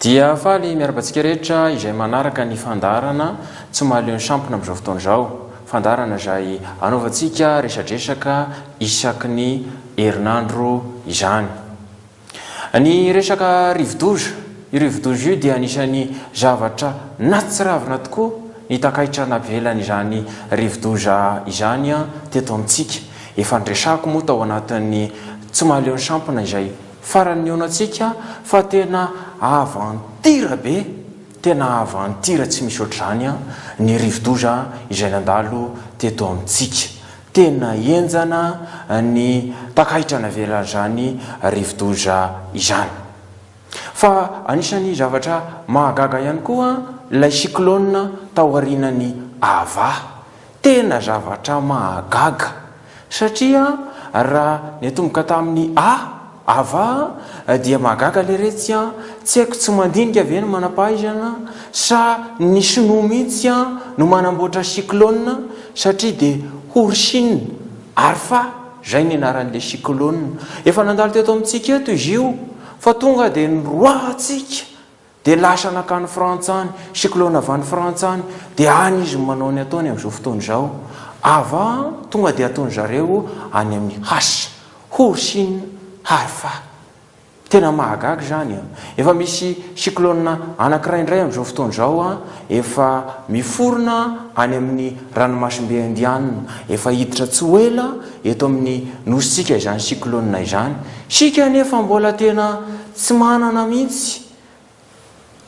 Dia faly miarabantsika rehetra izay manaraka ny fandaharana tsy mahaleo ny sampona amin'izao fotoana izao. Fandaharana izay anaovantsika resadresaka isaky ny herinandro izany. Ny resaka rivodoza, io rivodoza io dia anisan'ny zavatra natsiravina tokoa ny takaitra navelan'izany rivodoza izany teto amintsika. Efa niresahako moa tao anatin'ny tsy mahaleo ny sampona izay farany nihaonantsika fa tena aventure be, tena aventure tsy misy ohatr'izany ny rivodoza izay nandalo teto amintsika. Tena henjana ny takaitra navelan'izany rivodoza izany. Fa anisan'ny zavatra mahagaga ihany koa ilay cyclone taorianan'i Ava. Tena zavatra mahagaga satria raha niatomboka tamin'ny A, Ava dia mahagaga leretsy an! Tsy haiko tsy mandinika ve ny manampahaizana sa ny sinoa mihitsy an no manamboatra cyclone satria dia horsine arfa zay ny anaran'ilay cyclone efa nandalo teto amintsika eto izy io fa tonga dia niroahantsika Dia lasa nankany Frantsa any, cyclone avy any Frantsa any, dia any izy no manao ny ataony amin'izao fotoana izao. Ava, tonga dia ataony zareo any amin'ny Has, Horsin Harfa. Tena mahagaga izany an! Efa misy cyclone anankiray indray amin'izao fotoana izao an, efa miforona any amin'ny ranomasimbe Indiana, efa hiditra tsy ho ela eto amin'ny nosintsika izany cyclone izany. Isika anefa mbola tena Tsy manana mihitsy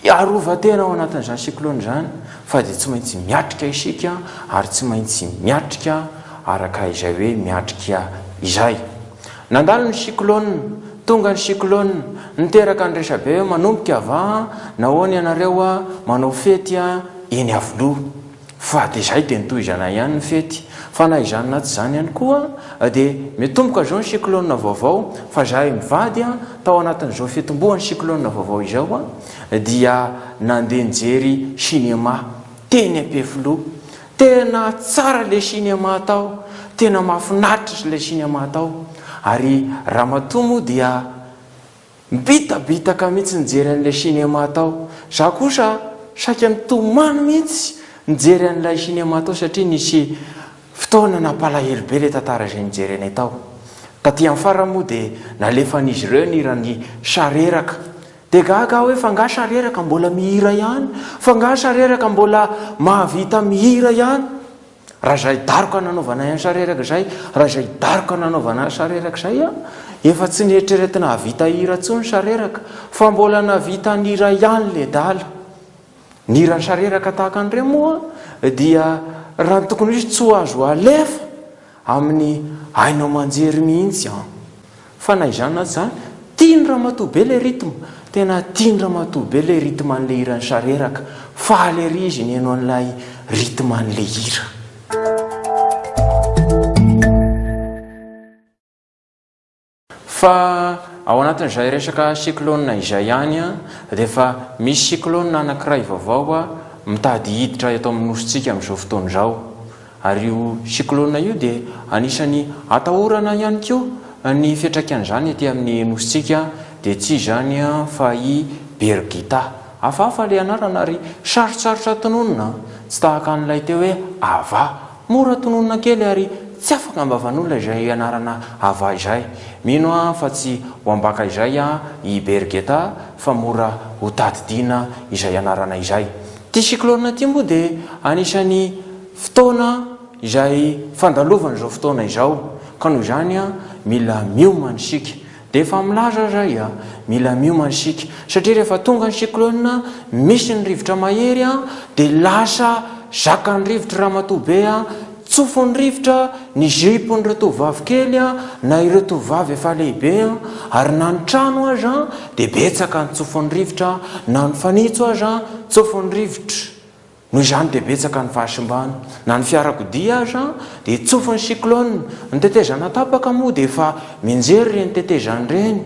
hiarovan-tena ao anatin'izany cyclone izany fa dia tsy maintsy miatrika isika ary tsy maintsy miatrika araka izay hoe miatrika izay. Nandalo ny cyclone, tonga ny cyclone, niteraka ny resabe hoe manomboka va? Nahoana ianareo manao fety eny Iavoloha? Fa dia izay dia ny tohizana ihany ny fety. Fa na izany na tsy izany ihany koa dia miatomboka izao ny cyclone vaovao fa izahay mivady tao anatin'izao fiatombohan'ny cyclone vaovao izao dia nandeha nijery cinéma teny Ampefiloha. Tena tsara ilay cinéma tao, tena mahafinaritra ilay cinéma tao ary ramatoa moa dia. Mibitabitaka mihitsy nijery an'ilay cinéma tao za kosa saika nitomany mihitsy nijery an'ilay cinéma tao satria nisy fotoana nampalahelo be ilay tantara izay nijerenay tao. Taty amin'ny farany moa dia nalefan'izy ireo ny hiran'i Sareraka. Dia gaga aho hoe f'angaha Sareraka mbola mihira ihany? F'angaha Sareraka mbola mahavita mihira ihany? Raha izay daroka nanaovanay an'i Sareraka izay, raha izay daroka nanaovana an'i Sareraka izay an, efa tsy nieritreretina hahavita hira intsony Sareraka, fa mbola nahavita ny iray ihany ledala. Ny hiran'i Sareraka tahaka an'ireo moa dia raha ny tokony ho izy tsy ho azo alefa amin'ny haino aman-jery mihitsy an. Fa na izany na tsy izany, tian'i ramatoa be ilay rythme. Tena tian'i ramatoa be ilay rythme an'ilay hiran'i Sareraka. Faly ery izy nihaino an'ilay rythme an'ilay hira. Fa ao anatin'izay resaka cyclone izay ihany dia efa misy cyclone anankiray vaovao mitady hiditra eto amin'ny Nosintsika amin'izao fotoana izao. Ary io cyclone io dia anisan'ny atahorana ihany koa ny fiantraikan'izany ety amin'ny Nosintsika dia tsy izany fa i Birgitta. Hafahafa ilay anarana ary sarotsarotra tononina, tsy tahaka an'ilay teo hoe Ava. Mora tononina kely ary tsy afaka am-bavan'olona izay anarana Ava izay. Mino aho fa tsy ho ambaka izay i Birgitta fa mora hotadidiana izay anarana izay. Ity cyclone ity moa dia anisan'ny fotoana izay fandalovana izao fotoana izao ka noho izany mila miomana isika. Dia efa milaza aza ahy mila miomana isika satria rehefa tonga ny cyclone misy ny rivotra mahery dia lasa zakan'ny rivotra ramatoa be Tsofin'ny rivotra ny jupe-n'ireo tovovavy kely na ireo tovovavy efa lehibe, ary na ny trano aza dia betsaka ny tsofin'ny rivotra, na ny fanitso aza tsofin'ny rivotra. Noho izany dia betsaka ny fahasimbana. Na ny fiarakodia aza dia tsofin'ny cyclone. Ny tetezana tapaka moa dia efa mianjery ireny tetezana ireny,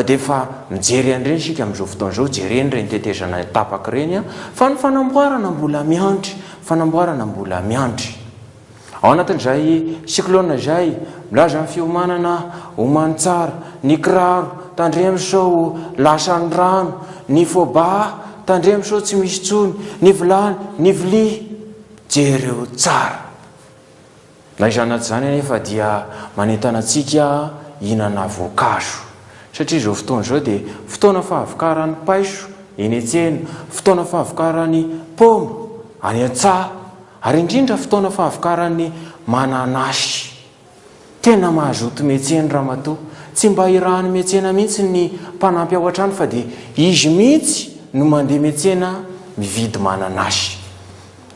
dia efa mijery an'ireny isika amin'izao fotoana izao, jereny ireny tetezana tapaka ireny, fa ny fanamboarana mbola miandry. Fanamboarana mbola miandry. Ao anatin'izay cyclone izay, milaza ny fiomanana omany tsara, ny kiraro, tandremo sao lasan'ny rano, ny fôbà, tandremo sao tsy misy intsony, ny vilany, ny vilia, jereo tsara. Na izany na tsy izany anefa dia manentana antsika hihinana voankazo satria izao fotoana izao dia fotoana fahavokaran'ny paiso eny an-tsena, fotoana fahavokaran'ny paoma any an-tsaha ary indrindra fotoana fahavokaran'ny mananasy. Tena mazoto miantsena ramatoa, tsy mba irahan'ny miantsena mihitsy ny mpanampy ao an-trano fa dia izy mihitsy no mandeha miantsena mividy mananasy.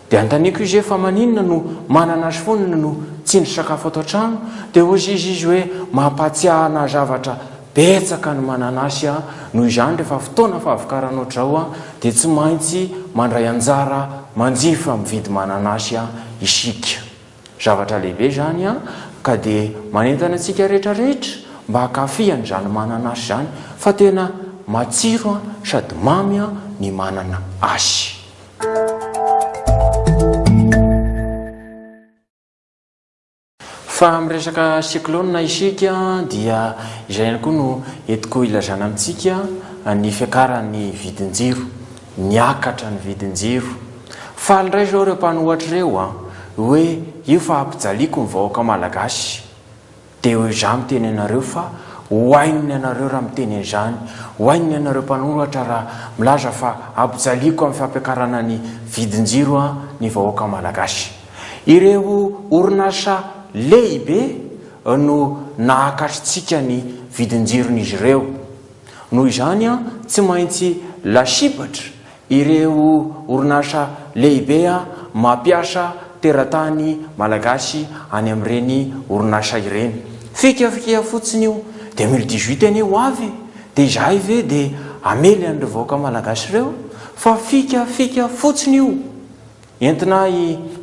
Dia antaniko izy hoe fa maninona no manana azy foana no tsindry sakafo ato an-trano dia hozy izy izy hoe mampahatsiahy anah zavatra betsaka ny mananasy an, noho izany rehefa fotoana fahavokarana ohatr'izao an dia tsy maintsy mandray anjara manjifa mividy mananasy an isika. Zavatra lehibe izany an, ka dia manentana antsika rehetra rehetra mba hankafy an'izany mananasy izany fa tena matsiro an sady mamy an ny manana asy. Fa miresaka cyclone isika dia izay ihany koa no entiko ilazana amintsika ny fiakaran'ny vidin-jiro. Niakatra ny vidin-jiro. Faly indray izao ireo mpanohatra ireo hoe io fahampijaliako ny vahoaka malagasy. Dia ho izaho miteny anareo fa ho ain'ny anareo raha miteny an'izany, ho ain'ny anareo mpanoratra raha milaza fa ampijaliako amin'ny fampiakarana ny vidin-jiro an ny vahoaka malagasy. Ireo orinasa lehibe no nahakatritsika ny vidin-jiron'izy ireo. Noho izany an tsy maintsy lasibatra Ireo orinasa lehibe mampiasa teratany malagasy any amin'ireny orinasa ireny. Fikafika fotsiny io. Dia mille dix huit anie ho avy e! Dia izahay ve dia hamely an'ireo vahoaka malagasy ireo? Fa fikafika fotsiny io. Entina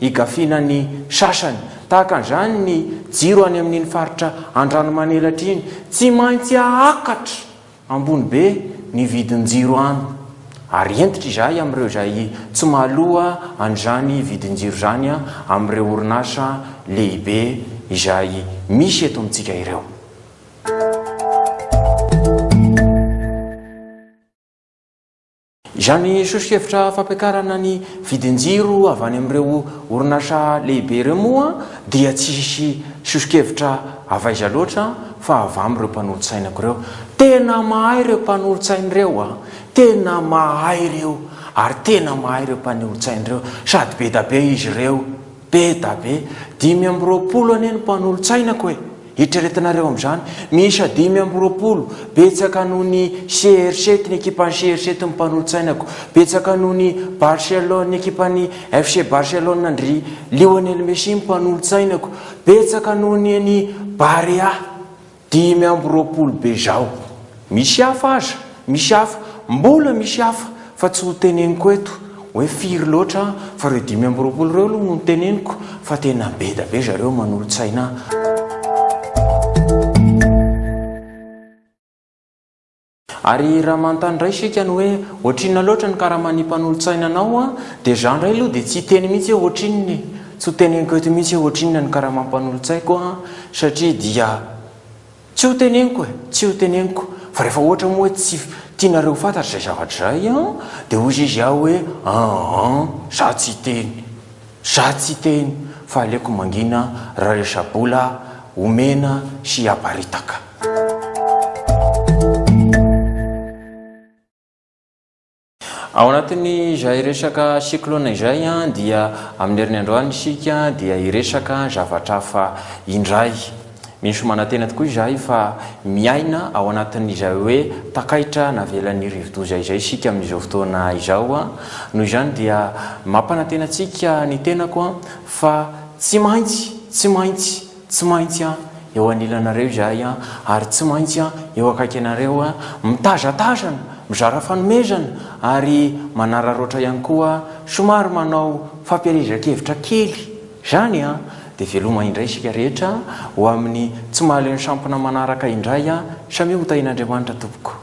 higafiana ny sasany. Tahaka an'izany ny jiro any amin'iny faritra Andranomanelatra iny. Tsy maintsy ahakatra! Ambony be ny vidin-jiro any, ary hentitra izahay amin'ireo izay tsy mahaloa an'izany vidin-jiro izany amin'ireo orinasa lehibe izay misy eto amintsika ireo. Izany soso-kevitra fampiakarana ny vidin-jiro avy any amin'ireo orinasa lehibe ireo moa dia tsy hisy soso-kevitra avy aiza loatra fa avy amin'ireo mpanolotsainako ireo. Tena mahay ireo mpanolotsaina ireo a! Tena mahay ireo ary tena mahay ireo mpanolotsaina ireo sady be da be izy ireo. Be da be! Dimy amby roapolo anie ny mpanolotsainako e! Eritreretinareo amin'izany, miisa dimy amby roapolo, betsaka noho ny CRC tny ekipan'ny CRC tny mpanolotsainako, betsaka noho ny Barcelone ny ekipan'ny FC Barcelone an-dry Lionel Messi ny mpanolotsainako, betsaka noho ny an'i Barea. Dimy amby roapolo be zao. Misy hafa aza, misy hafa, mbola misy hafa fa tsy ho teneniko eto hoe firy loatra fa reo dimy amby roapolo reo aloha no teneniko fa tena beda be zareo manolotsaina ahy. Ary raha manontany indray isika ny hoe ohatrinona loatra ny karaman'ny mpanolotsaina anao an, dia izaho indray aloha dia tsy hiteny mihitsy hoe ohatrinona e! Tsy ho teneniko eto mihitsy hoe ohatrinona ny karaman'ny mpanolotsaiko an, satria dia tsy ho teneniko e! Tsy ho teneniko. Fa rehefa ohatra moa hoe tsy tianareo ho fantatra izay zavatra izay an, dia hoy izy aho hoe an an, izaho tsy hiteny. Za tsy teny fa aleko mangina ra resa bola omena sy aparitaka. Ao anatin'ny izay resaka cyclone izay dia amin'ny herin'ny androany isika dia hiresaka zavatra hafa indray. Misy manantena tokoa izahay fa miaina ao anatin'izay hoe takaitra navelan'ny rivodoza izay isika amin'izao fotoana izao. Noho izany dia mampanantena antsika ny tenako fa tsy maintsy, tsy maintsy, tsy maintsy eo anilanareo izahay ary tsy maintsy eo akaiky anareo, mitazatazana, mizara fanomezana ary manararaotra ihany koa, somary manao fampielezan-kevitra kely. Izany dia veloma indray isika rehetra ho amin'ny tsy mahaleo ny sampona manaraka indray samia ho tahin'Andriamanitra tompoko.